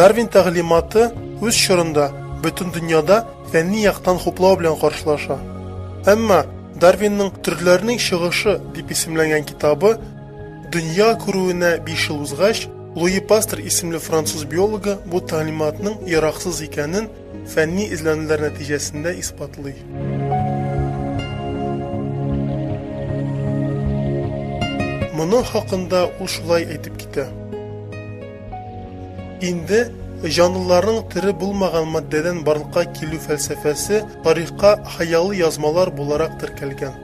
Дарвин тәгълиматы үз чорында бөтен дөньяда фәнни яктан хуплау белән каршылаша. Әмма Дарвинның төрләрнең чыгышы дип исемләнгән китабы Дөнья күрүенә 5 ел узгач, Луи Пастер исемле француз биологы бу тәгълиматның яраксыз икәнен фәнни эзләнүләр нәтиҗәсендә исбатлый. Моның хакында ул шулай әйтеп китә. Инде җанлыларның тере булмаган матдәдән барлыкка килү фәлсәфәсе тарихка хыялый язмалар буларак теркәлгән.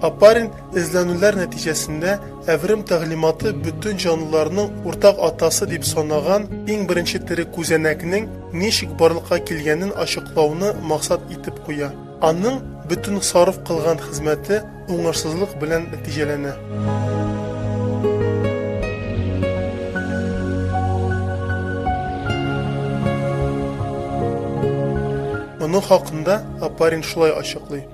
Апарин эзләнүләр нәтиҗәсендә әверем тәгълиматы бөтен җанлыларның уртак атасы дип санаган иң беренче тере күзәнәкнең ничек барлыкка килгәнен ачыклауны максат итеп куя. Аның бөтен сарыф кылган хезмәте уңышсызлык белән нәтиҗәләнә. Моның хакында Апарин шулай ачыклый.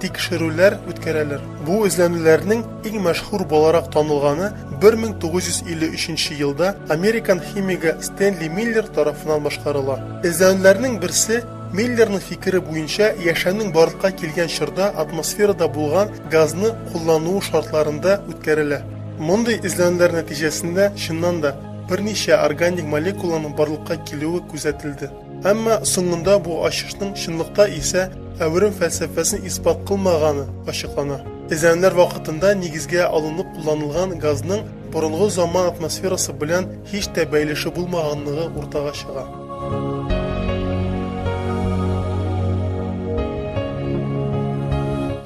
тикшерүләр үткәрәләр. Бу эзләнүләрнең иң мәшһүр буларак танылганы 1953 елда американ химигы Стэнли Миллер тарафыннан башкарыла. Эзләнүләрнең берсе Миллерның фикере буенча яшәүнең барлыкка килгән чорда атмосферада булган газны куллануы шартларында үткәрелә. Мондый эзләнүләр нәтиҗәсендә, чыннан да, берничә органик молекуланың барлыкка килүе күзәтелде. Әмма соңында бу ачышның чынлыкта исә әверем фәлсәфәсен исбат кылмаганы ачыклана. Эзләнүләр вакытында нигезгә алынып кулланылган газның борынгы заман атмосферасы белән һич тә бәйлеше булмаганлыгы уртага чыга.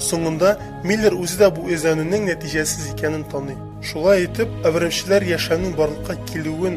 Соңында Миллер үзе дә бу эзләнүнең нәтиҗәсез икәнен таный. Шулай итеп, әверемчеләр яшәүнең барлыкка килүен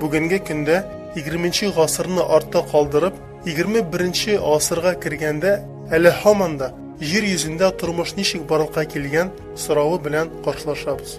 Бүгенге көндә 20 гасырны артта калдырып, 21 гасырга кергәндә әле һаман да җир йөзендә тормыш ничек барлыкка килгән соравы белән каршылашабыз.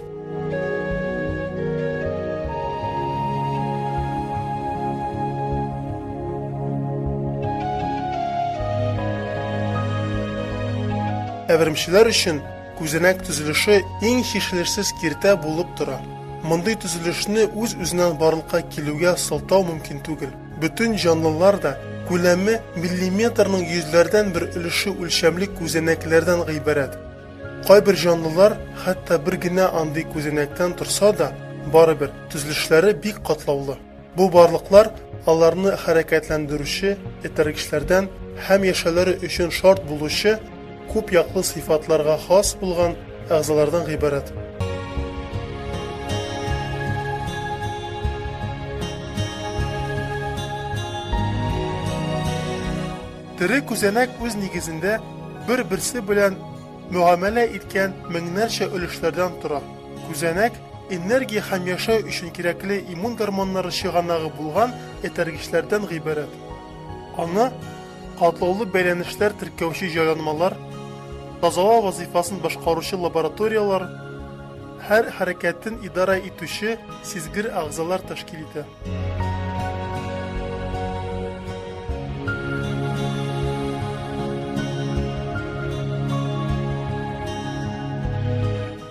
Әверемчеләр өчен Күзәнәк төзелеше иң чишелешсез киртә булып тора. Мондый төзелешне үз-үзеннән барлыкка килүгә сылтау мөмкин түгел. Бөтен җанлылар да күләме миллиметрның йөзләрдән бер өлеше үлчәмле күзәнәкләрдән гыйбарәт. Кайбер җанлылар хәтта бер генә андый күзәнәктән торса да, барыбер, төзелешләре бик катлаулы. Бу барлыклар аларны хәрәкәтләндерүче, этәргечләрдән һәм яшәүләре өчен шарт булучы күп яклы сыйфатларга хас булган әгъзалардан гыйбарәт. Тере күзәнәк үз нигезендә бер-берсе белән мөгамәлә иткән меңнәрчә өлешләрдән тора. Күзәнәк, энергия һәм яшәү өчен кирәкле иммун гормоннары чыганагы булган этәргечләрдән гыйбарәт. Аны катлаулы бәйләнешләр теркәүче җайланмалар, тазалау вазыйфасын башкаручы лабораторияләр, һәр хәрәкәтен идарә итүче сизгер әгъзалар тәшкил итә.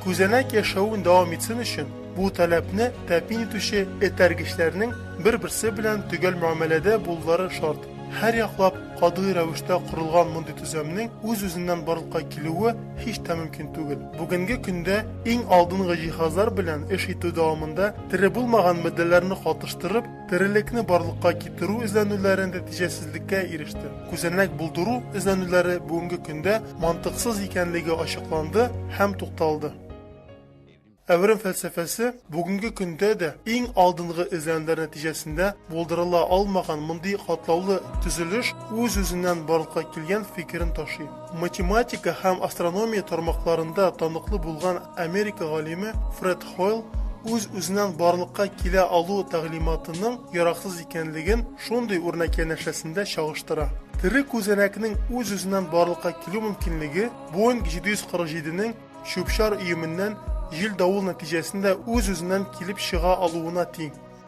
Күзәнәк яшәвен дәвам итсен өчен, бу таләпне тәэмин итүче этәргечләрнең бер-берсе белән төгәл мөәмәләдә булулары шарт. Һәрьяклап катгый рәвештә корылган мондый төземнең үз-үзеннән барлыкка килүе һич тә мөмкин түгел. Бүгенге көндә иң алдынгы җиһазлар белән эш итү дәвамында тере булмаган матдәләрне катыштырып, Терелекне барлыкка китерү эзләнүләре нәтиҗәсезлеккә иреште. Күзәнәк булдыру эзләнүләре бүгенге көндә мантыксыз икәнлеге ачыкланды һәм тукталды. Әверем фәлсәфәсе бүгенге көндә дә иң алдынгы эзләнүләр нәтиҗәсендә булдырыла алмаган мондый катлаулы төзелеш үз-үзеннән барлыкка килгән фикерен ташый. Математика һәм астрономия тармакларында таныклы булган Америка галиме Фред Хойл үз-үзеннән барлыкка килә алу тәгълиматының яраксыз икәнлеген шундый үрнәк янәшәсендә чагыштыра. Тере күзәнәкнең үз-үзеннән барлыкка килү мөмкинлеге Боинг 747-нең чүп-чар өеменнән җил-давыл нәтиҗәсендә үз-үзеннән килеп чыга алуына тиң.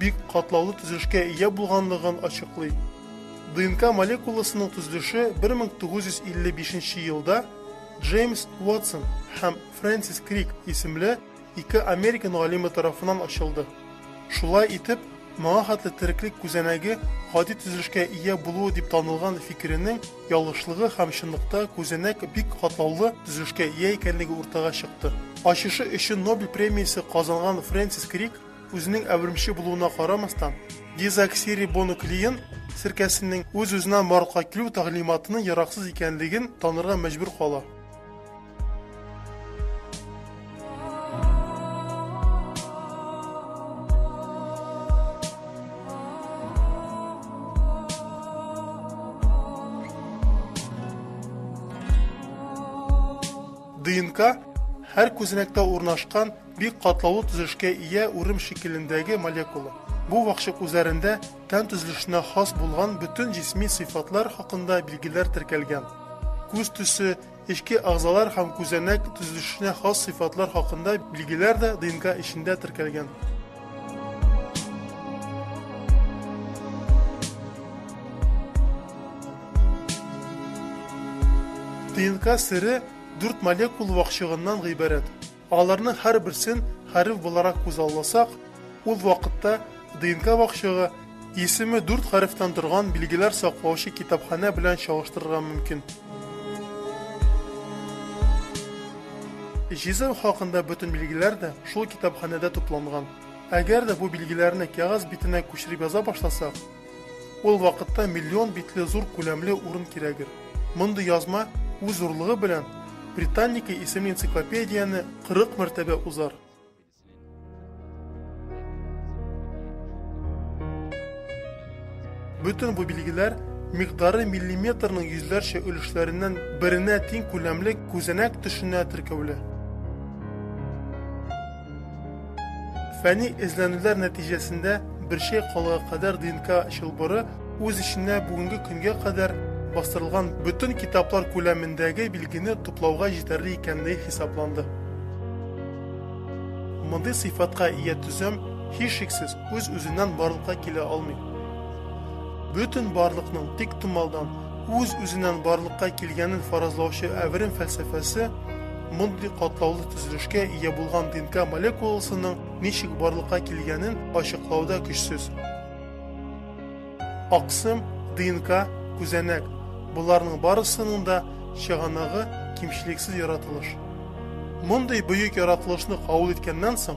бик катлаулы төзелешкә ия булганлыгын ачыклый. ДНК молекуласының төзелеше 1955 елда Джеймс Уотсон һәм Фрэнсис Крик исемле ике американ галиме тарафыннан ачылды. Шулай итеп, моңа хәтле тереклек күзәнәге гади төзелешкә ия булуы дип танылган фикеренең ялгышлыгы һәм чынлыкта күзәнәк бик катлаулы төзелешкә ия икәнлеге уртага чыкты. Ачышы өчен Нобель премиясе казанган Фрэнсис Крик Үзенең әвермче булуына карамастан, дезоксирибонуклеин серкәсенең үз-үзенә марка килү тәгълиматының яраксыз икәнлеген танырга мәҗбүр кала. ДНК һәр күзәнәктә урнашкан Бик катлаулы төзелешкә ия урым шикелендәге молекула. Бу вакчык үзәрендә тән төзелешенә хас булган бөтен җисми сыйфатлар хакында билгеләр теркәлгән. Күз төсе, эчке әгъзалар һәм күзәнәк төзелешенә хас сыйфатлар хакында билгеләр дә ДНК эчендә теркәлгән. ДНК сере дүрт молекул вакчыгыннан гыйбарәт. Аларның һәрберсен хәреф буларак күзалласак, ул вакытта ДНК вакчыгы исеме дүрт хәрефтән торган билгеләр саклаучы китапханә белән чагыштырырга мөмкин. Җизем хакында бөтен билгеләр дә шул китапханәдә тупланган. Әгәр дә бу билгеләрне кәгазь битенә күчереп яза башласак, Ул вакытта миллион битле зур күләмле урын кирәгер. Мондый язма үз зурлыгы белән Британника исемле энциклопедияне 40 мәртәбә узар. Бөтен бу билгеләр микъдары миллиметрның йөзләрчә өлешләреннән беренә тиң күләмле күзәнәк төшенә теркәүле. Фәнни эзләнүләр нәтиҗәсендә бер чәй калыгы кадәр ДНК чылбыры үз эченә бүгенге көнгә кадәр бастырылган бөтен китаплар күләмендәге билгене туплауга җитәрле икәнлеге хисапланды. Мондый сыйфатка ия төзем, һичшиксез, үз-үзеннән барлыкка килә алмый. Бөтен барлыкның тиктомалдан, үз-үзеннән барлыкка килгәнен фаразлаучы әверем фәлсәфәсе мондый катлаулы төзелешкә ия булган ДНК молекуласының ничек барлыкка килгәнен ачыклауда көчсез. Аксым, ДНК, күзәнәк, боларның барысының да чыганагы кимчелексез яратылыш. Мондый бөек яратылышны кабул иткәннән соң,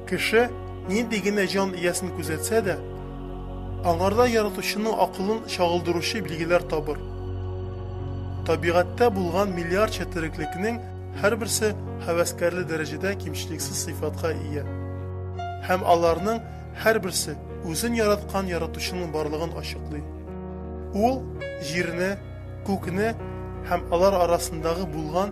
Кеше нинди генә җан иясен күзәтсә дә, аңарда яратучының акылын чагылдыручы билгеләр табыр. Табигатьтә булган миллиардча тереклекнең һәрберсе һәвәскәрле дәрәҗәдә кимчелексез сыйфатка ия. Һәм аларның һәрберсе үзен яраткан яратучының барлыгын ачыклый. Ул Җирне, Күкне һәм алар арасындагы булган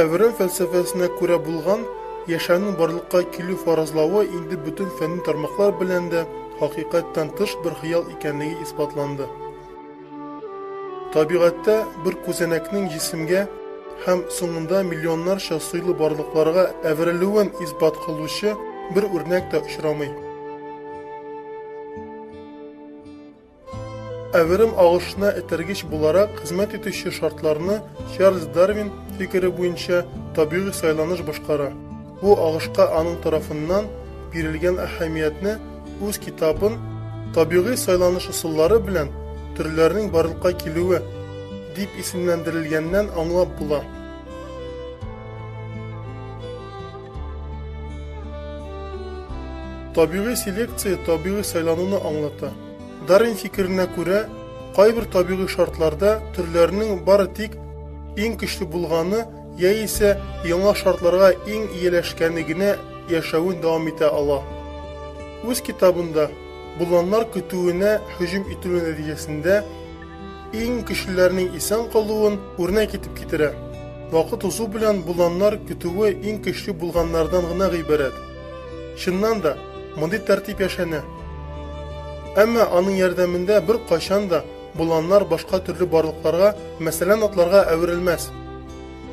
Әврәм фәлсәфәсенә күрә булган яшәүнең барлыкка килү фаразлавы инде бөтен фәнни тармаклар белән дә хакыйкатьтән тыш бер хыял икәнлеге исбатланды. Табигатьтә бер күзәнәкнең җисемгә һәм соңында миллионнарча сыйлы барлыкларга әверелүен исбат кылучы бер үрнәк тә очрамый. Әверем агышына этәргеч буларак хезмәт итүче шартларны Чарльз Дарвин фикере буенча табигый сайланыш башкара. Бу агышка аның тарафыннан бирелгән әһәмиятне үз китабын Табигый сайланыш ысуллары белән төрләрнең барлыкка килүе дип исемләндерелгәннән аңлап була. Табигый селекция табигый сайлануны аңлата. Дарвин фикеренә күрә, кайбер табигый шартларда төрләрнең бары тик иң көчле булганы яисә яңа шартларга иң ияләшкәне генә яшәвен дәвам итә ала. Үз китабында боланнар көтүенә һөҗүм ителү нәтиҗәсендә иң көчлеләрнең исән калуын үрнәк итеп китерә. Вакыт узу белән боланнар көтүе иң көчле булганнардан гына гыйбарәт. Чыннан да, мондый тәртип яшәнә. Әмма аның ярдәмендә беркайчан да Боланнар башка төрле барлыкларга, мәсәлән, атларга әверелмәс.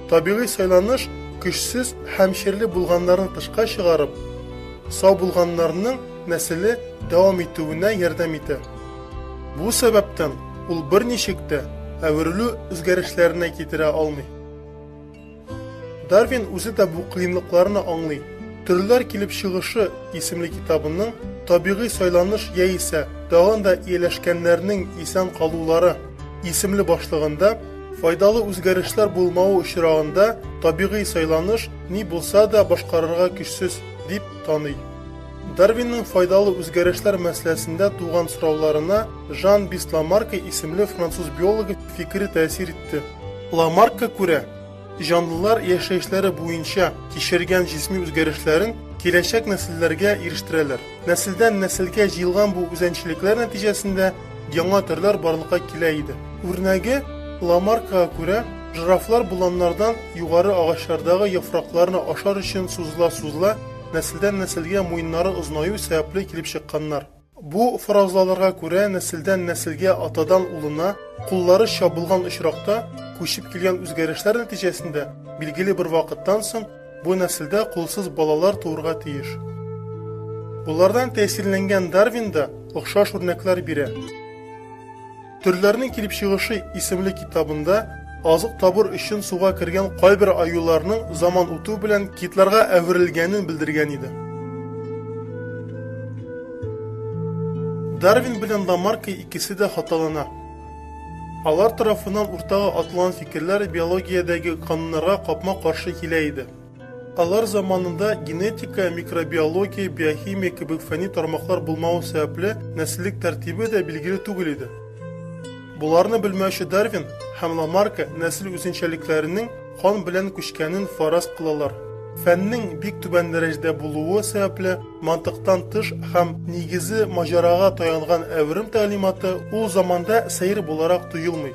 Табигый сайланыш көчсез һәм чирле булганнарны тышка чыгарып, сау булганнарның нәселе дәвам итүенә ярдәм итә. Бу сәбәптән ул берничек тә әверелү үзгәрешләренә китерә алмый. Дарвин үзе дә бу кыенлыкларны аңлый. Төрләр килеп чыгышы исемле китабының табигый сайланыш яисә тагын да ияләшкәннәрнең исән калулары исемле башлыгында файдалы үзгәрешләр булмавы очрагында табигый сайланыш ни булса да башкарырга көчсез дип таный. Дарвинның файдалы үзгәрешләр мәсьәләсендә туган сорауларына Жан Бисламарка исемле француз биологы фикере тәэсир итте. Ламаркка күрә, җанлылар яшәешләре буенча кичергән җисми үзгәрешләрен киләчәк нәселләргә ирештерәләр. Нәселдән нәселгә җыелган бу үзәнчелекләр нәтиҗәсендә яңа төрләр барлыкка килә иде. Үрнәге, Ламаркага күрә, жирафлар боланнардан югары агачлардагы яфракларны ашар өчен сузыла-сузыла, нәселдән нәселгә муеннары озынаю сәбәпле килеп чыкканнар. Бу фаразлаларга күрә нәселдән нәселгә атадан улына куллары чабылган очракта күчеп килгән үзгәрешләр нәтиҗәсендә билгеле бер вакыттан соң бу нәселдә кулсыз балалар туырга тиеш. Болардан тәэсирләнгән Дарвин да охшаш үрнәкләр бирә. Төрләрнең килеп чыгышы исемле китабында азык табыр өчен суга кергән кайбер аюларның заман үтү белән китларга әверелгәнен белдергән иде. Дарвин белән Ламарка икесе дә хаталана. Алар тарафыннан уртага атылган фикерләр биологиядәге кануннарга капма-каршы килә иде. Алар заманында генетика, микробиология, биохимия кебек фәнни тармаклар булмавы сәбәпле, нәселлек тәртибе дә билгеле түгел иде. Боларны белмәүче Дарвин һәм Ламарка нәсел үзенчәлекләренең кан белән күчкәнен фараз кылалар. Фәннең бик түбән дәрәҗәдә булуы сәбәпле, мантыктан тыш һәм нигезе маҗарага таянган әверем тәгълиматы ул заманда сәер буларак тоелмый.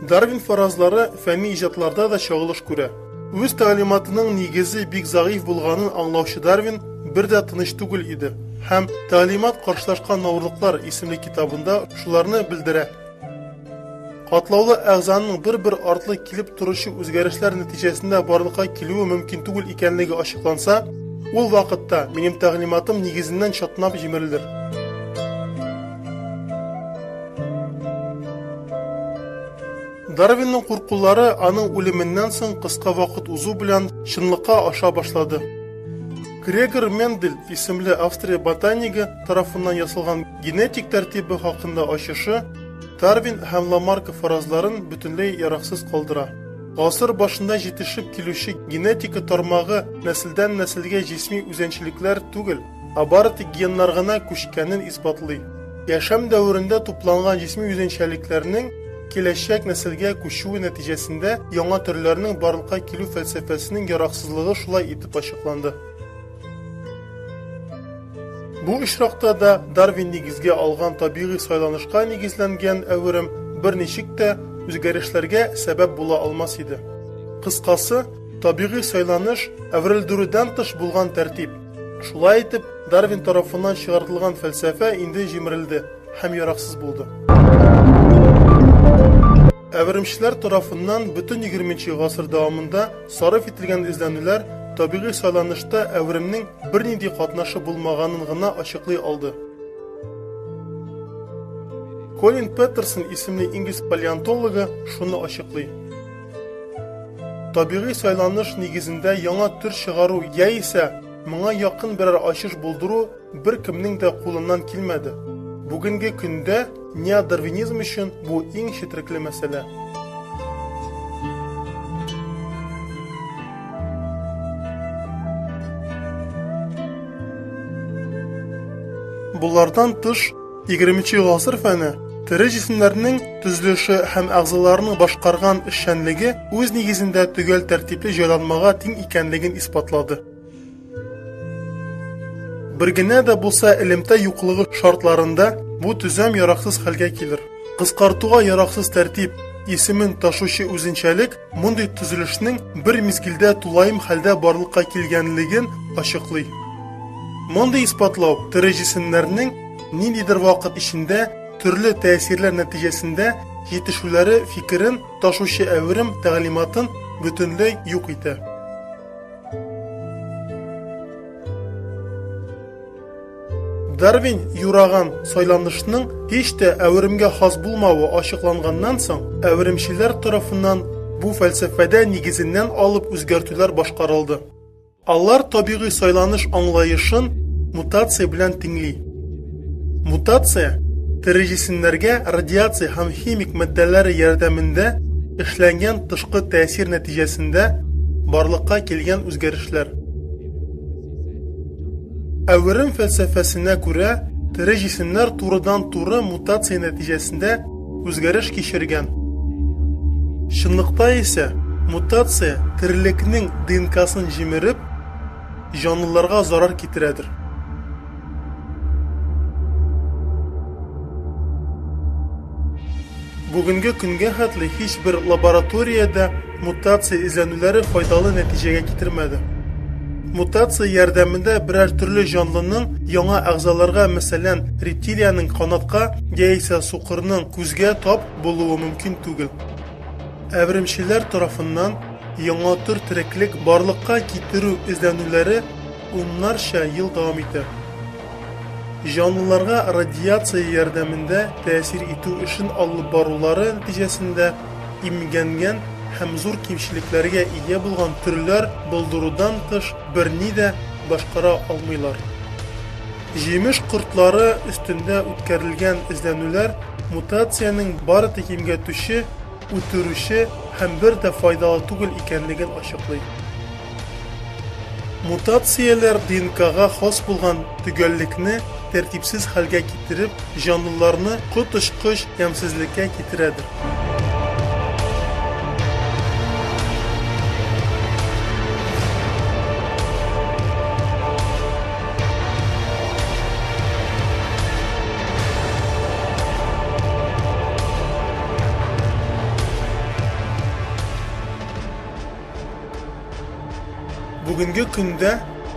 Дарвин фаразлары фәнни иҗатларда да чагылыш күрә. Үз тәгълиматының нигезе бик зәгыйфь булганын аңлаучы Дарвин бер дә тыныч түгел иде һәм Тәгълимат каршылашкан авырлыклар исемле китабында шуларны белдерә. Катлаулы әгъзаның бер-бер артлы килеп торучы үзгәрешләр нәтиҗәсендә барлыкка килүе мөмкин түгел икәнлеге ачыкланса, ул вакытта минем тәгълиматым нигезеннән чатнап җимерелер. Дарвинның куркулары аның үлеменнән соң кыска вакыт узу белән чынлыкка аша башлады. Грегор Мендель исемле Австрия ботанигы тарафыннан ясалган генетик тәртибе хакында ачышы Дарвин һәм Ламарка фаразларын бөтенләй яраксыз калдыра. Гасыр башында җитешеп килүче генетика тармагы нәселдән-нәселгә җисми үзенчәлекләр түгел, Ә бары тик геннар гына күчкәнен исбатлый. Яшәм дәверендә тупланган җисми үзенчәлекләрнең киләчәк нәселгә күчүе нәтиҗәсендә яңа төрләрнең барлыкка килү фәлсәфәсенең яраксызлыгы шулай итеп ачыкланды. Бу очракта да Дарвин нигезгә алган табигый сайланышка нигезләнгән әверем берничек тә үзгәрешләргә сәбәп була алмас иде. Кыскасы, табигый сайланыш, әверелдерүдән тыш булган тәртип. Шулай итеп, Дарвин тарафыннан чыгартылган фәлсәфә инде җимерелде һәм яраксыз булды. Әверемчеләр тарафыннан бөтен 20 гасыр дәвамында сарыф ителгән эзләнүләр табигый сайланышта әверемнең бернинди катнашы булмаганын гына ачыклый алды. Колин Петерсон исемле инглиз палеонтологы шуны ачыклый. Табигый сайланыш нигезендә яңа төр чыгару яисә моңа якын берәр ачыш булдыру бер кемнең дә кулыннан килмәде. Бүгенге көндә неодарвинизм өчен бу иң четрекле мәсьәлә. Булардан тыш, 20 гасыр фәне тере җисемнәрнең төзелеше һәм әгъзаларының башкарган эшчәнлеге үз нигезендә төгәл тәртипле җайланмага тиң икәнлеген исбатлады. Бер генә дә булса элемтә юклыгы шартларында бу төзәм яраксыз хәлгә килер. Кыскартуга яраксыз тәртип исемен ташучы үзенчәлек мондый төзелешнең бер мизгелдә тулаем хәлдә барлыкка килгәнлеген ачыклый. Мондый исбатлау тере җисемнәрнең Ниндидер вакыт эчендә төрле тәэсирләр нәтиҗәсендә җитешүләре фикерен ташучы әверем тәгълиматын бөтенләй юк итә. Дарвин юраган сайланышның һич тә әверемгә хас булмавы ачыкланганнан соң, әверемчеләр тарафыннан бу фәлсәфәдә нигезеннән алып үзгәртүләр башкарылды. Алар табигый сайланыш аңлаешын мутация белән тиңли. Мутация, тере җисемнәргә радиация һәм химик матдәләре ярдәмендә эшләнгән тышкы тәэсир нәтиҗәсендә барлыкка килгән үзгәрешләр. Әверем фәлсәфәсенә күрә, тере җисемнәр турыдан-туры мутация нәтиҗәсендә үзгәреш кичергән. Чынлыкта исә, мутация терлекнең ДНКсын җимереп, җанлыларга зарар китерәдер. Бүгенге көнгә хәтле һичбер лабораториядә Мутация эзләнүләре файдалы нәтиҗәгә китермәде. Мутация ярдәмендә берәр төрле җанлының яңа әгъзаларга, мәсәлән, рептилиянең канатка яисә сукырның күзгә тап булуы мөмкин түгел. Әверемчеләр тарафыннан яңа төр тереклек барлыкка китерү эзләнүләре уннарча ел дәвам итә. Җанлыларга радиация ярдәмендә тәэсир итү эшен алып барулары нәтиҗәсендә имгәнгән һәм зур кимчелекләргә ия булган төрләр булдырудан тыш берни дә башкара алмыйлар. Җимеш кортлары өстендә үткәрелгән эзләнүләр мутациянең бары тик имгәтүче, үтерүче һәм бер дә файдалы түгел икәнлеген ачыклый. Мутацияләр ДНКга хас булган төгәллекне тәртипсез хәлгә китереп, җанлыларны коточкыч ямьсезлеккә китерәдер. Бүгенге көндә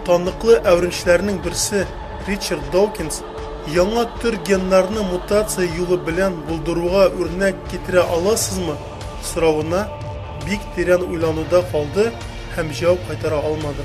таныклы әверенчеләрнең берсе Ричард Докинс яңа төр геннарны мутация юлы белән булдыруга үрнәк китерә аласызмы соравына бик тирән уйлануда калды һәм җавап кайтара алмады.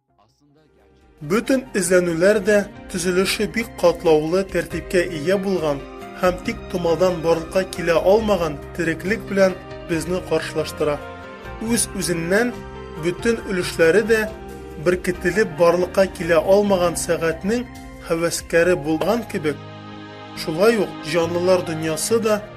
Бөтен эзләнүләр дә төзелеше бик катлаулы тәртипкә ия булган һәм тик томалдан барлыкка килә алмаган тереклек белән безне каршылаштыра. Үз-үзеннән бөтен өлешләре дә беркетелеп барлыкка килә алмаган сәгатьнең һәвәскәре булган кебек, шулай ук җанлылар дөньясы да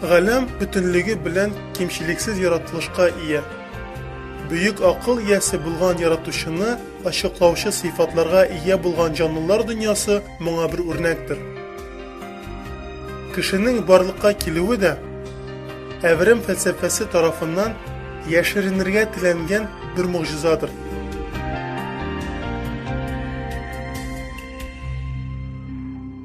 Галәм бөтенлеге белән кимчелексез яратылышка ия. Бөек акыл иясе булган Яратучыны ачыклаучы сыйфатларга ия булган җанлылар дөньясы моңа бер үрнәктер. Кешенең барлыкка килүе дә, әверем фәлсәфәсе тарафыннан яшеренергә теләнгән бер могҗизадыр.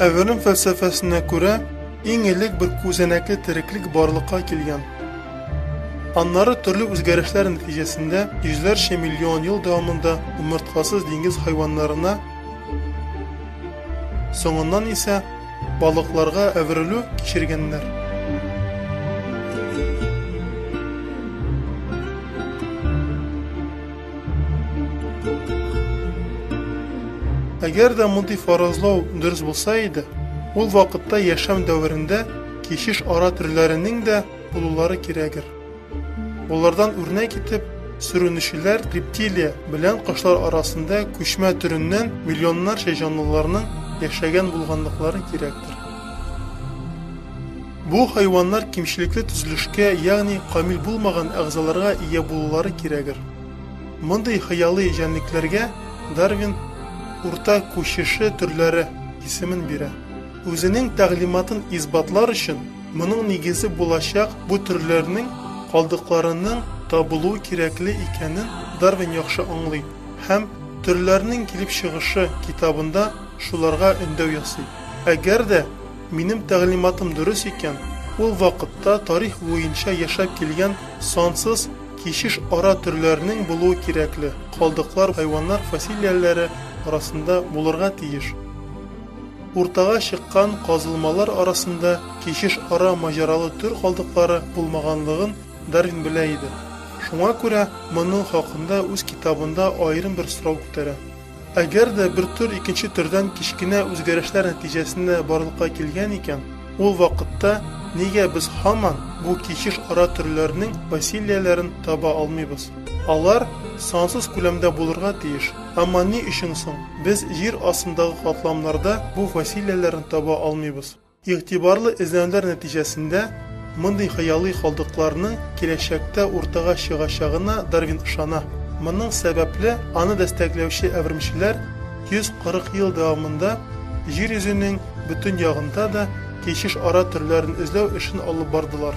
Әверем фәлсәфәсенә күрә, иң элек бер күзәнәкле тереклек барлыкка килгән. Аннары төрле үзгәрешләр нәтиҗәсендә йөзләрчә миллион ел дәвамында умырткасыз диңгез хайваннарына Соңыннан исә балыкларга әверелү кичергәннәр. Әгәр дә мондый фаразлау дөрес булса иде, ул вакытта яшәм дәверендә кичеш ара төрләренең дә булулары кирәгер. Болардан үрнәк итеп, сүренүчеләр рептилия белән кошлар арасында күчмә төреннән миллионнарча җанлыларның яшәгән булганлыклары кирәктер. Бу хайваннар кимчелекле төзелешкә, ягъни камил булмаган әгъзаларга ия булулары кирәгер. Мондый хыялый җәнлекләргә Дарвин урта күчеше төрләре исемен бирә. Үзенең тәгълиматын исбатлар өчен Моның нигезе булачак бу төрләрнең калдыкларының табылуы кирәкле икәнен Дарвин яхшы аңлый һәм Төрләрнең килеп чыгышы китабында шуларга өндәү ясый. Әгәр дә минем тәгълиматым дөрес икән, ул вакытта тарих буенча яшәп килгән сансыз кичеш ара төрләрнең булуы кирәкле калдыклар хайваннар фасилияләре арасында булырга тиеш. Уртага чыккан казылмалар арасында кичеш ара маҗаралы төр калдыклары булмаганлыгын Дарвин белә иде. Шуңа күрә моның хакында үз китабында аерым бер сорау күтәрә. Әгәр дә бер төр икенче төрдән кечкенә үзгәрешләр нәтиҗәсендә барлыкка килгән икән, ул вакытта нигә без һаман бу кичеш ара төрләрнең бациллияләрен таба алмыйбыз? Алар сансыз күләмдә булырга тиеш. Әмма ни өчен соң без җир астындагы катламнарда бу фасилияләрне таба алмыйбыз? Игътибарлы эзләнүләр нәтиҗәсендә мондый хыялый калдыкларның киләчәктә уртага чыгачагына Дарвин ышана. Моның сәбәпле аны дәстәкләүче әверемчеләр 140 ел дәвамында Җир йөзенең бөтен ягында да кичеш ара төрләрен эзләү эшен алып бардылар.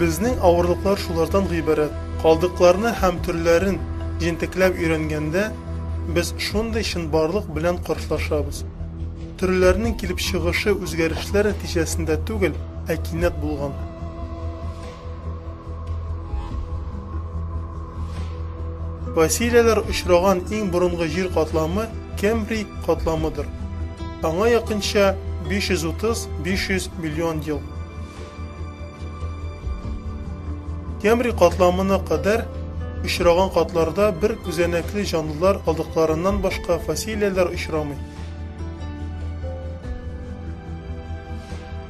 Безнең авырлыклар шулардан гыйбарәт. Калдыкларны һәм төрләрен җентекләп өйрәнгәндә, без шундый чынбарлык белән каршылашабыз. Төрләрнең килеп чыгышы үзгәрешләр нәтиҗәсендә түгел, ә кинәт булган. Фасилияләр очраган иң борынгы җир катламы Кембрий катламыдыр. Аңа якынча 530-500 миллион ел. Кембрий катламына кадәр очраган катларда бер күзәнәкле җанлылар калдыкларыннан башка фасилияләр очрамый.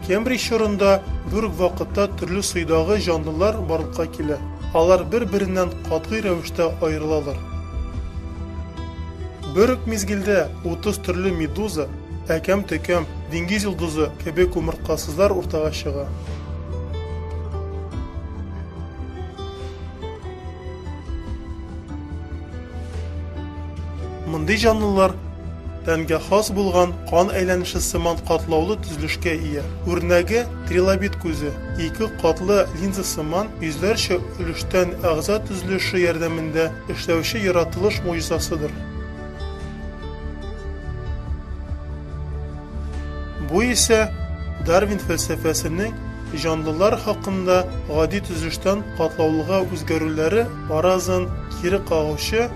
Кембрий чорында бер үк вакытта төрле суйдагы җанлылар барлыкка килә. Алар бер-береннән катгый рәвештә аерылалар. Бер үк мизгелдә 30 төрле медуза, әкәм-төкәм, диңгез йолдызы кебек умырткасызлар уртага чыга. Мондый җанлылар тәнгә хас булган кан әйләнеше сыман катлаулы төзелешкә ия. Үрнәге трилобит күзе, ике катлы линза сыман йөзләрчә өлештән әгъза төзелеше ярдәмендә Эшләүче яратылыш могҗизасыдыр. Бу исә Дарвин фәлсәфәсенең җанлылар хакында гади төзелештән катлаулыга үзгәрүләре фаразын кире кагучы,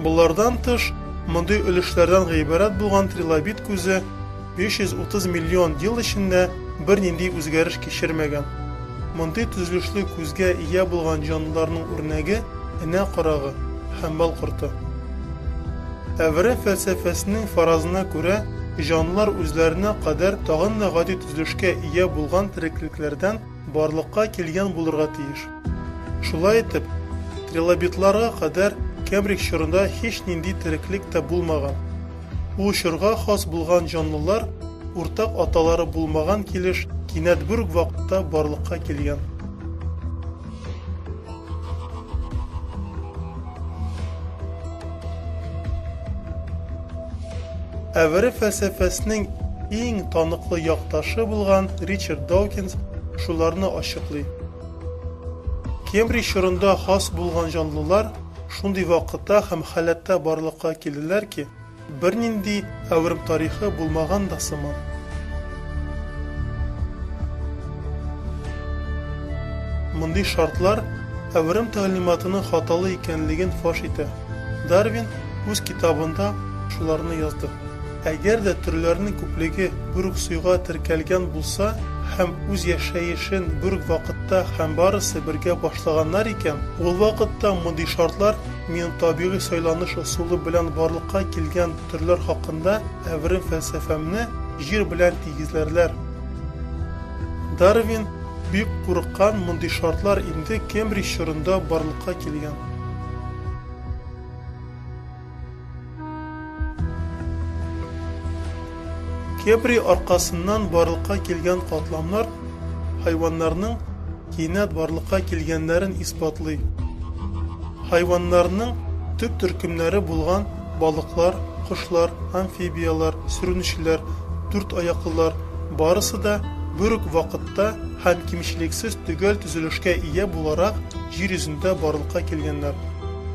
болардан тыш, мондый өлешләрдән гыйбарәт булган трилобит күзе, 330 миллион ел эчендә бернинди үзгәреш кичермәгән. Мондый төзелешле күзгә ия булган җанлыларның үрнәге энә карагы, хәмбал корты. Әвре фәлсәфәсенең фаразына күрә, җанлылар үзләренә кадәр тагын да гади төзелешкә ия булган тереклекләрдән барлыкка килгән булырга тиеш. Шулай итеп, трилобитларга кадәр Кембридж чорында һичнинди тереклек тә булмаган. Ул чорга хас булган җанлылар, уртак аталары булмаган килеш, кинәт бер үк вакытта барлыкка килгән. Әвере фәлсәфәсенең иң таныклы якташы булган Ричард Даукинс шуларны ачыклый. Кембридж чорында хас булган җанлылар Шундый вакытта һәм халәттә барлыкка килделәр ки, бернинди әверм тарихы булмаган да сыман. Мондый шартлар әверм тәгълиматының хаталы икәнлеген фаш итә. Дарвин үз китабында шуларны язды. Әгәр дә төрләрнең күплеге бер үк суйга теркәлгән булса һәм үз яшәешен бер үк вакытта һәм барысы бергә башлаганнар икән, ул вакытта мондый шартлар минем табигый сайланыш ысулы белән барлыкка килгән төрләр хакында әверем фәлсәфәмне Җир белән тигезләрләр. Дарвин бик курыккан мондый шартлар инде Кембридж чорында барлыкка килгән. Кепри аркасыннан барлыкка килгән катламнар хайваннарның кинәт барлыкка килгәннәрен исбатлый. Хайваннарның төп төркемнәре булган балыклар, кошлар, амфибияләр, сүрүнчеләр, дүрт аяклылар барысы да бер үк вакытта һәм кимчелексез төгәл төзелешкә ия буларак җир йөзендә барлыкка килгәннәр.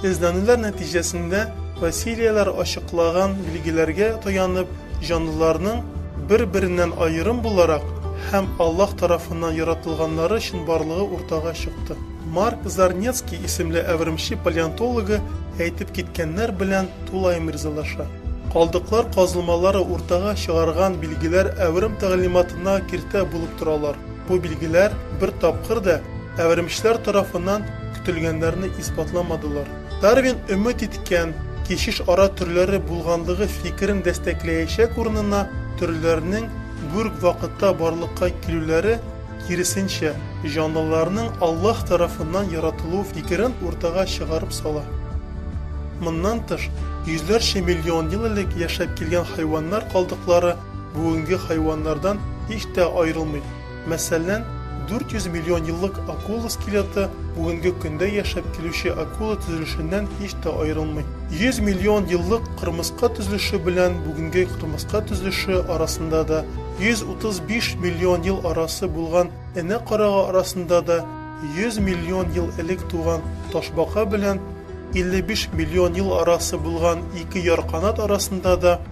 Эзләнүләр нәтиҗәсендә фасилияләр ачыклаган билгеләргә таянып, җанлыларның бер-береннән аерым буларак һәм Аллаһ тарафыннан яратылганнары өчен барлыгы уртага чыкты. Марк Зарнецкий исемле әвермче палеонтологы әйтеп киткәннәр белән тулаем ризалаша. Калдыклар казылмалары уртага чыгарган билгеләр әверм тәгълиматына киртә булып торалар. Бу билгеләр бер тапкыр да әвермечләр тарафыннан көтелгәннәрне исбатламадылар. Дарвин өмет иткән, кичеш ара төрләре булганлыгы фикерен дәстәкләячәк урынына, төрләрнең гүрк вакытта барлыкка килүләре, киресенчә, җанлыларның Аллаһ тарафыннан яратылуы фикерен уртага чыгарып сала. Моннан тыш, йөзләрчә миллион ел элек яшәп килгән хайваннар калдыклары бүгенге хайваннардан һич тә аерылмый. Мәсәлән, 400 миллион еллык акула скелеты бүгенге көндә яшәп килүче акула төзелешеннән һич тә аерылмый. 100 миллион еллык кырмыска төзелеше белән бүгенге кырмыска төзелеше арасында да, 135 миллион ел арасы булган энә карага арасында да, 100 миллион ел элек туган ташбака белән 55 миллион ел арасы булган ике ярканат арасында да,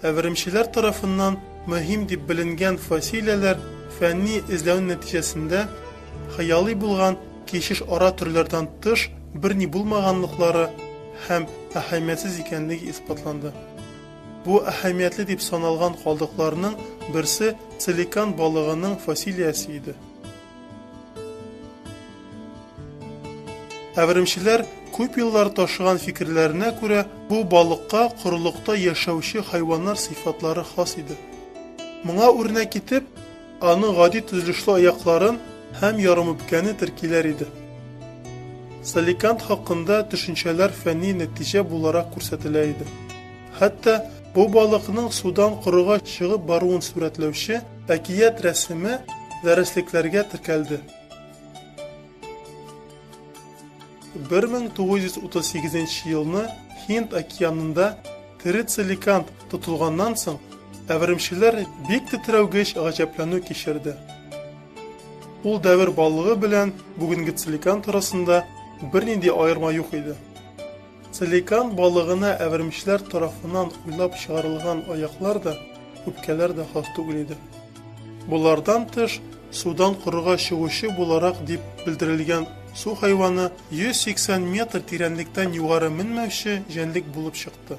Әверемчеләр тарафыннан мөһим дип беленгән фасилияләр фәнни эзләү нәтиҗәсендә хыялый булган кишеш ара төрләрдән тыш берни булмаганлыклары һәм әһәмиятсез икәнлеге исбатланды. Бу әһәмиятле дип саналган калдыкларның берсе целикан балыгының фасилиясе иде. Әверемчеләр күп еллар ташыган фикерләренә күрә, бу балыкка корылыкта яшәүче хайваннар сыйфатлары хас иде. Моңа үрнәк итеп, аның гади төзелешле аякларын һәм ярымүпкәне теркиләр иде. Саликант хакында төшенчәләр фәнни нәтиҗә буларак күрсәтелә иде. Хәтта бу балыкның судан корыга чыгып баруын сурәтләүче Әкият рәсеме дәреслекләргә теркәлде. 1938 елны Һинд океанында терицеликант тотылганнан соң, әверемчеләр бик тетрәүгеч гаҗәпләнү кичерде. Ул дәвер балыгы белән бүгенге целикант арасында бернинди аерма юк иде. Целикан балыгына әвермечләр тарафыннан уйлап чыгарылган аяклар да, үпкәләр дә хас түгел иде. Болардан тыш, судан корыга чыгучы буларак дип белдерелгән су хайваны 180 метр тирәнлектән югары менмәүче җәнлек булып чыкты.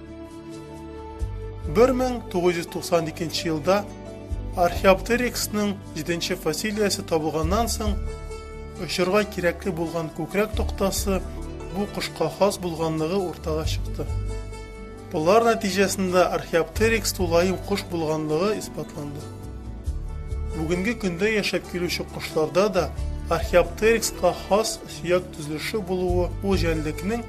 1992 елда Археоптериксның җиденче фасилиясе табылганнан соң, очырга кирәкле булган күкрәк токтасы бу кошка хас булганлыгы уртага чыкты. Болар нәтиҗәсендә Археоптерикс тулаем кош булганлыгы исбатланды. Бүгенге көндә яшәп килүче кошларда да Археоптерикска хас сөяк төзелеше булуы ул җәнлекнең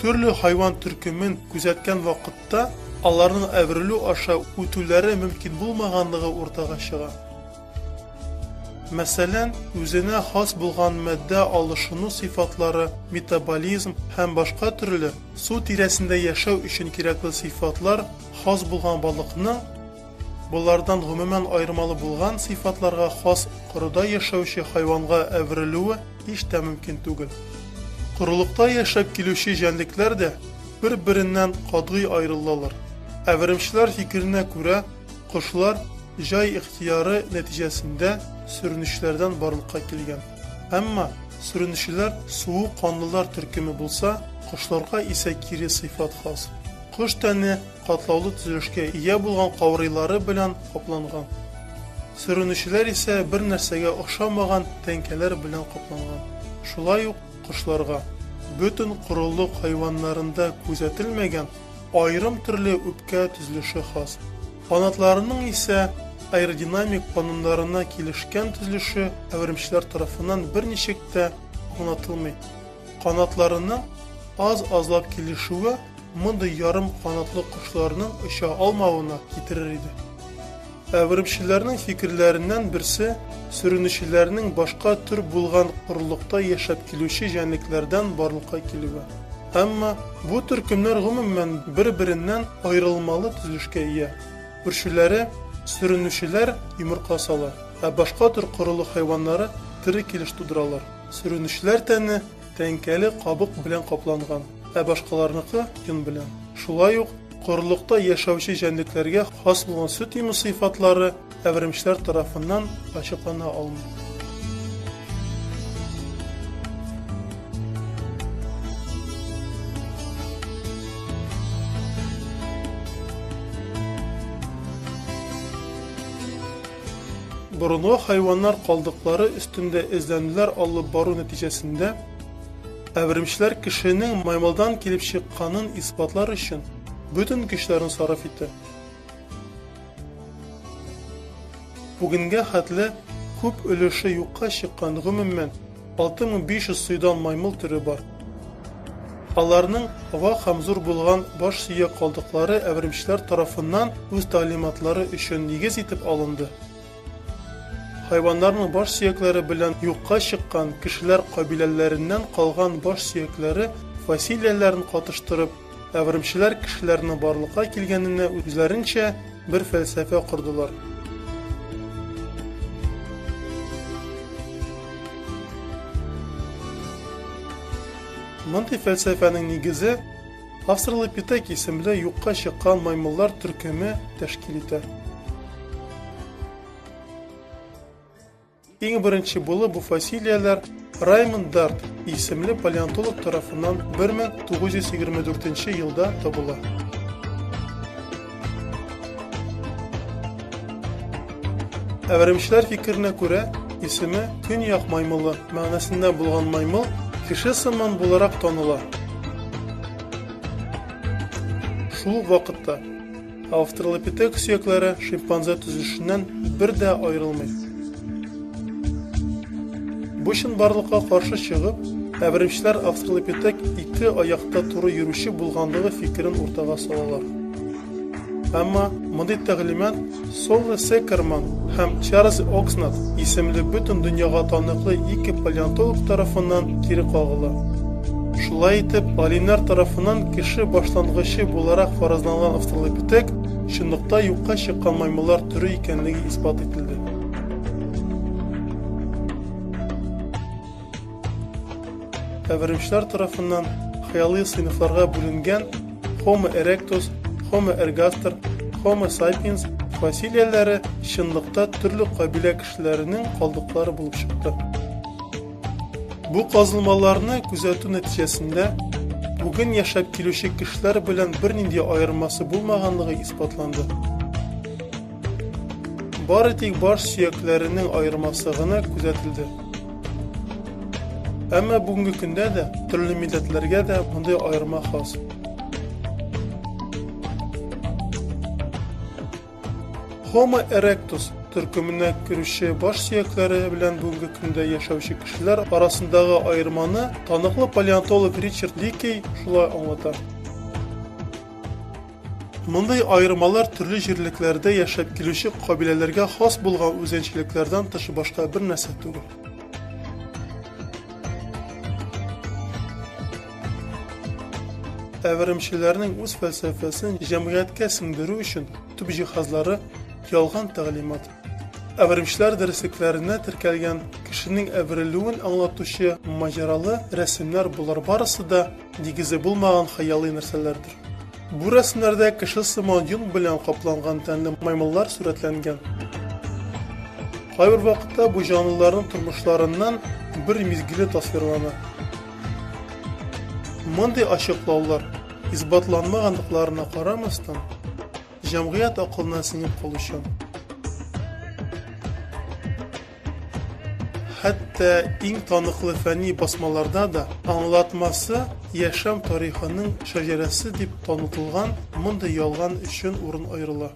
Төрле хайван төркемен күзәткән вакытта аларның әверелү аша үтүләре мөмкин булмаганлыгы уртага чыга. Мәсәлән, үзенә хас булган матдә алышыну сыйфатлары, метаболизм һәм башка төрле су тирәсендә яшәү өчен кирәкле сыйфатлар хас булган балыкның Болардан гомумән аермалы булган сыйфатларга хас корыда яшәүче хайванга әверелүе һич тә мөмкин түгел. Корылыкта яшәп килүче җәнлекләр дә бер-береннән катгый аерылалар. Әверемчеләр фикеренә күрә, кошлар җай ихтыяры нәтиҗәсендә сөренүчеләрдән барлыкка килгән. Әмма сөренүчеләр суы канлылар төркеме булса, кошларга исә кире сыйфат хас. Кош тәне катлаулы төзелешкә ия булган каурыйлары белән капланган. Сөренүчеләр исә бер нәрсәгә охшамаган тәңкәләр белән капланган. Шулай ук кошларга, бөтен корылык хайваннарында күзәтелмәгән аерым төрле үпкә төзелеше хас. Канатларының исә аэродинамик кануннарына килешкән төзелеше әверемчеләр тарафыннан берничек тә онытылмый. Канатларының аз-азлап килешүе мондый ярым канатлы кошларның оча алмавына китерер иде. Әверемчеләрнең фикерләреннән берсе сөренүчеләрнең башка төр булган корылыкта яшәп килүче җәнлекләрдән барлыкка килүе. Әмма бу төркемнәр гомумән бер-береннән аерылмалы төзелешкә ия. Үрчүләре сөренүчеләр йомырка сала, ә башка төр корылык хайваннары тере килеш тудыралар. Сөренечләр тәне тәңкәле кабык белән капланган, ә башкаларныкы, йон белән. Шулай ук, корылыкта яшәүче җәнлекләргә хас булган сөт имү сыйфатлары әверемчләр тарафыннан ачыклана алмый. Борынгы хайваннар калдыклары өстендә эзләнүләр алып бару нәтиҗәсендә әверемчеләр кешенең маймылдан килеп чыкканын исбатлар өчен бөтен көчләрен сарыф итә. Бүгенгә хәтле күп өлеше юкка чыккан, гомумән, 6500 сыйдан маймыл төре бар. Аларның вак һәм зур булган баш сөяк калдыклары әверемчеләр тарафыннан үз тәгълиматлары өчен нигез итеп алынды. Хайваннарның баш сөякләре белән юкка чыккан кешеләр кабиләләреннән калган баш сөякләре фасилияләрен катыштырып, Әверемчеләр кешеләрнең барлыкка килгәненә үзләренчә бер фәлсәфә кордылар. Мондый фәлсәфәнең нигезе Австралопитек исемле юкка чыккан маймыллар төркеме тәшкил итә. Иң беренче булып бу фасилияләр Раймонд Дарт исемле палеонтолог тарафыннан 1924 елда табыла. Әверемчеләр фикеренә күрә, исеме Көньяк маймылы мәгънәсендә булган маймыл кеше сыман буларак таныла. Шул вакытта Австралопитек сөякләре шимпанзе төзелешеннән бер дә аерылмый. Бу чынбарлыкка каршы чыгып, әверемчеләр австралопитек ике аякта туры йөрүче булганлыгы фикерен уртага салалар. Әмма мондый тәгълимат Соло Секерман һәм Чарльз Окснат исемле бөтен дөньяга таныклы ике палеонтолог тарафыннан кире кагыла. Шулай итеп, галимнәр тарафыннан кеше башлангычы буларак фаразланган австралопитек чынлыкта юкка чыккан маймыллар төре икәнлеге исбат ителде. Әверемчләр тарафыннан хыялый сыйныфларга бүленгән Homo erectus, Homo ergaster, Homo sapiens фасилияләре чынлыкта төрле кабилә кешеләренең калдыклары булып чыкты. Бу казылмаларны күзәтү нәтиҗәсендә бүген яшәп килүче кешеләр белән бернинди аермасы булмаганлыгы исбатланды. Бары тик баш сөякләренең аермасы гына күзәтелде. Әмма бүгенге көндә дә төрле милләтләргә дә мондый аерма хас. Homo erectus төркеменә керүче баш сөякләре белән бүгенге көндә яшәүче кешеләр арасындагы аерманы таныклы палеонтолог Ричард Ликей шулай аңлата. Мондый аермалар төрле җирлекләрдә яшәп килүче кабиләләргә хас булган үзенчәлекләрдән тыш башка бер нәрсә түгел. әверемчеләрнең үз фәлсәфәсен җәмгыятькә сеңдерү өчен төп җиһазлары ялган тәгълимат. Әверемчеләр дәреслекләренә теркәлгән кешенең әверелүен аңлатучы маҗаралы рәсемнәр булар барысы да Нигезе булмаган хыялый нәрсәләрдер. Бу рәсемнәрдә кеше сыман йон белән капланган тәнле маймыллар сурәтләнгән. Кайбер вакытта бу җанлыларның тормышларыннан бер мизгеле тасвирлана. Мондый ачыклаулар, исбатланмаганлыкларына карамастан, җәмгыять акылына сеңеп калучан. Хәтта иң таныклы фәнни басмаларда да аңлатмасы яшәм тарихының шәҗәрәсе дип танытылган мондый ялган өчен урын аерыла.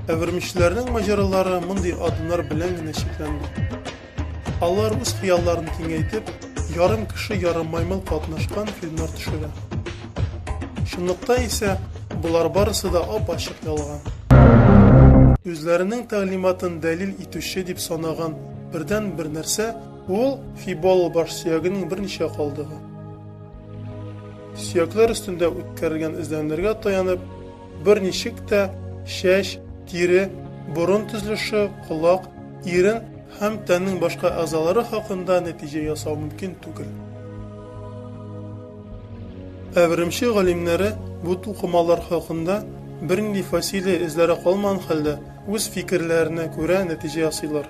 Әвермичләрнең маҗаралары мондый адымнар белән генә чикләнде. Алар үз хыялларын киңәйтеп, ярым кеше, ярым маймыл катнашкан фильмнар төшерә. Чынлыкта исә болар барысы да ап-ачык ялган. Үзләренең тәгълиматын дәлил итүче дип санаган бердән бер нәрсә ул Фибол баш сөягенең берничә калдыгы. Сөякләр өстендә үткәрелгән эзләнүләргә таянып, берничек тә чәч, тире, борын төзелеше, колак, ирен һәм тәннең башка әгъзалары хакында нәтиҗә ясау мөмкин түгел. Ә Өремче галимнәре бу тукымалар хакында бернинди фасилия эзләре калмаган хәлдә үз фикерләренә күрә нәтиҗә ясыйлар.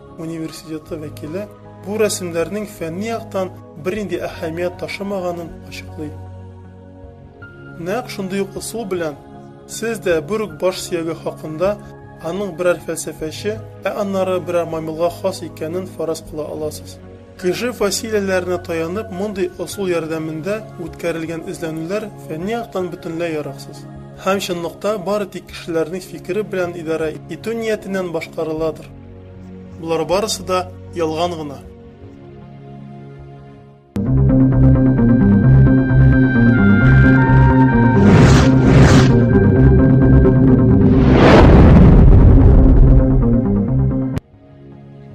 университеты вәкиле бу рәсемнәрнең фәнни яктан бернинди әһәмият ташымаганын ачыклый. Нәкъ шундый ук ысул белән сез дә бер үк баш сөяге хакында аның берәр фәлсәфәче, ә аннары берәр маймылга хас икәнен фараз кыла аласыз. Кеше фасилияләренә таянып мондый ысул ярдәмендә үткәрелгән эзләнүләр фәнни яктан бөтенләй яраксыз. Һәм чынлыкта бары тик кешеләрнең фикере белән идарә итү ниятеннән башкарыладыр. Болар барысы да ялган гына.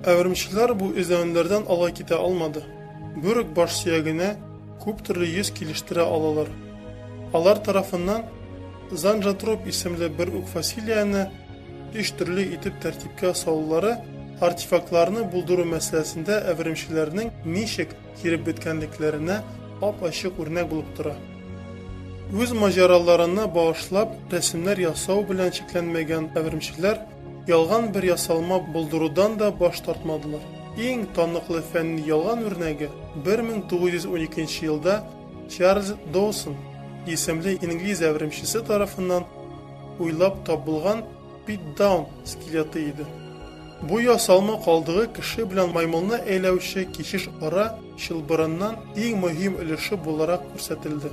Әвермчеләр бу эзләнүләрдән ала китә алмады. Бүрек баш сөягенә күп төрле йөз килештерә алалар. Алар тарафыннан Занжотроп исемле бер үк фасилияне өч төрле итеп тәртипкә салулары артефактларны булдыру мәсьәләсендә әверемчеләрнең ничек киреп беткәнлекләренә ап-ачык үрнәк булып тора. Үз маҗараларына багышлап рәсемнәр ясау белән чикләнмәгән әверемчеләр ялган бер ясалма булдырудан да баш тартмадылар. Иң таныклы фәнни ялган үрнәге 1912 елда Чарльз Доусон исемле инглиз әверемчесе тарафыннан уйлап табылган пит-даун скелеты иде. Бу ясалма калдыгы кеше белән маймылны әйләүче кичеш ара чылбырыннан иң мөһим өлеше буларак күрсәтелде.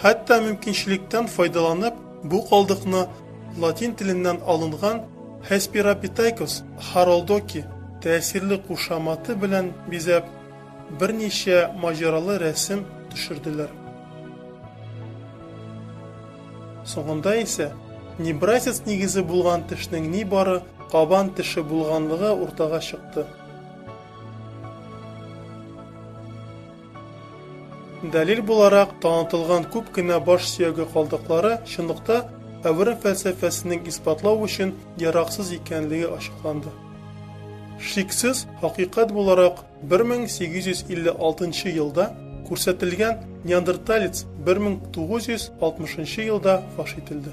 Хәтта мөмкинчелектән файдаланып, бу калдыкны латин теленнән алынган Hesperapithecus haroldoki тәэсирле кушаматы белән бизәп, берничә маҗаралы рәсем төшерделәр. Соңында исә небрасец нигезе булган тешнең нибары кабан теше булганлыгы уртага чыкты. Дәлил буларак танытылган күп кенә баш сөяге калдыклары чынлыкта әвере фәлсәфәсенең исбатлау өчен яраксыз икәнлеге ачыкланды. Шиксез, хакыйкать буларак 1856 елда күрсәтелгән неандерталец 1960 елда фаш ителде.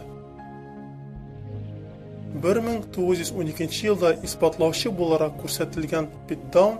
1912 елда исбатлаучы буларак күрсәтелгән Питтдаун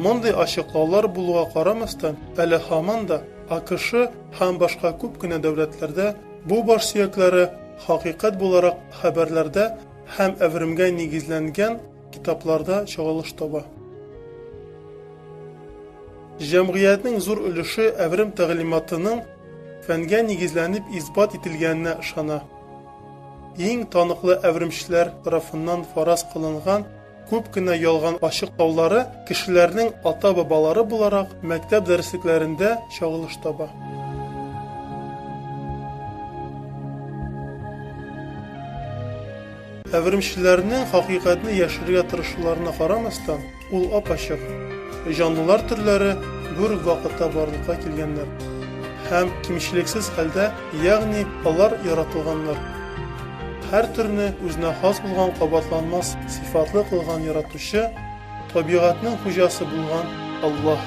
Мондый ачыклаулар булуга карамастан, әле һаман да АКШ һәм башка күп кенә дәүләтләрдә бу баш сөякләре хакыйкать буларак хәбәрләрдә һәм әверемгә нигезләнгән Китапларда чагылыш таба. Җәмгыятьнең зур өлеше әверем тәгълиматының фәнгә нигезләнеп исбат ителгәненә ышана. Иң таныклы әверемчеләр тарафыннан фараз кылынган күп кенә ялган ачыклаулары кешеләрнең ата-бабалары буларак мәктәп дәреслекләрендә чагылыш таба. Әверемчеләрнең хакыйкатьне яшерергә тырышуларына карамастан, ул ап-ачык. Җанлылар төрләре бер үк вакытта барлыкка килгәннәр һәм кимчелексез хәлдә, ягъни алар яратылганнар. Һәр төрне үзенә хас булган кабатланмас сыйфатлы кылган Яратучы, табигатьнең хуҗасы булган Аллаһ.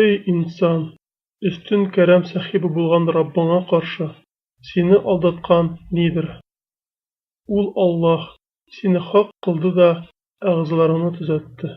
Эй, инсан! Өстен кәрәм сәхибе булган Раббыңа каршы сине алдаткан нидер? Ул, Аллаһ, сине хак кылды да әгъзаларыңны төзәтте.